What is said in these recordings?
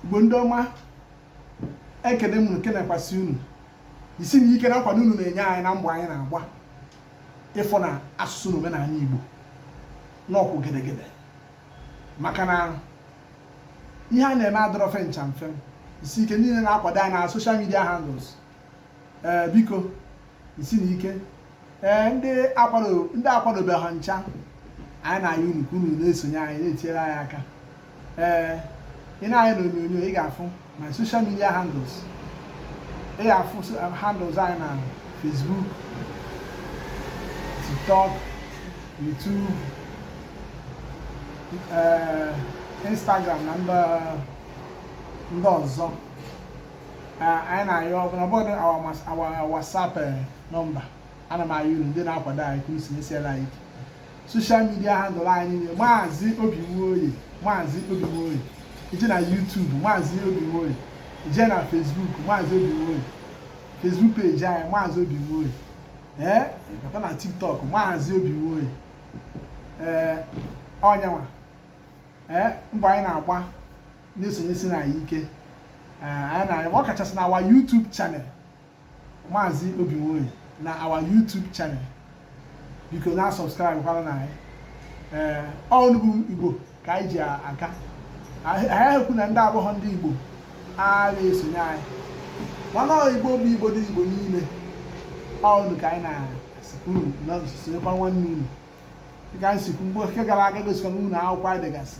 igbo ndị ọma ekene m ekenekwasị unu jisi na ike na nkwado unu na-enye anyị na mbọ anyị na-agba ịfụ na asụsụ na omenanị igbo na ọ kwụ gedegede maka na ihe a na-eme adịrọ fe ncha mfe jisi ike niile na-akwado anyị na social media handles ee biko jisi na ike ee ndị akwadobeghọ ncha anyị na-ayọ unu ka unu na-esonye anyị na-etinyere anyị aka ee ị nee anya na onyonyo ị ga-afụ my social media handles ị ga-afụ um, handles anyị na Facebook TikTok YouTube ee Instagram na ndị ọzọ anyị na-ayọ ọbụlagodu our WhatsApp eh, number ana m ayọ unu ndị na-akwado anyị ka unu sonyesiela anyị ike social media handle anyị niile maazị obi nwoye maazị obi nwoye i je na YouTube maazị obi nwoye i je na Facebook maazị obi nwoye Facebook page anyị maazị obi nwoye ee eh, ị bata na TikTok maazị obi nwoye ee eh, ọ ya nwa ee mbọ anyị na-agba na-esonyesi na anyị ike eh, ọ kachasị na our YouTube channel maazị Obinwoye na our YouTube channel biko na subscribe kwara na anyị ee eh, ọ unu bụ Igbo ka anyị ji aka anyị ekwu na ndị abụghọ ndị Igbo a na-esonye anyị mana Igbo bụ Igbo ndị Igbo niile ọ unu ka anyị na-asịkwu unu na sonyekwa nwanne unu dịka m si kwu mgbe nke gara aga gosikwa na unu akwụkwọ anyị dịgasị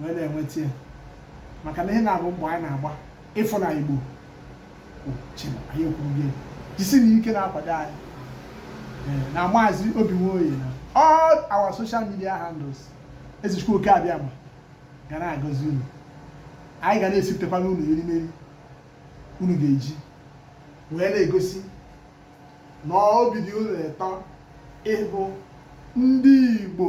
wee na-enweta ya maka na ihe na-abụ mbọ anyị na-agba ịfụ na igbo anyị akwụrụgo jisi na ike na-akwado anyị na maazị obi nwoye na all our social media handles ezi chukwu oke abịama ga na-agọzi unu anyị ga na-esiputekwa na unu erimeri unu ga-eji wee na-egosi na obi dị unu ụtọ ịbụ ndị Igbo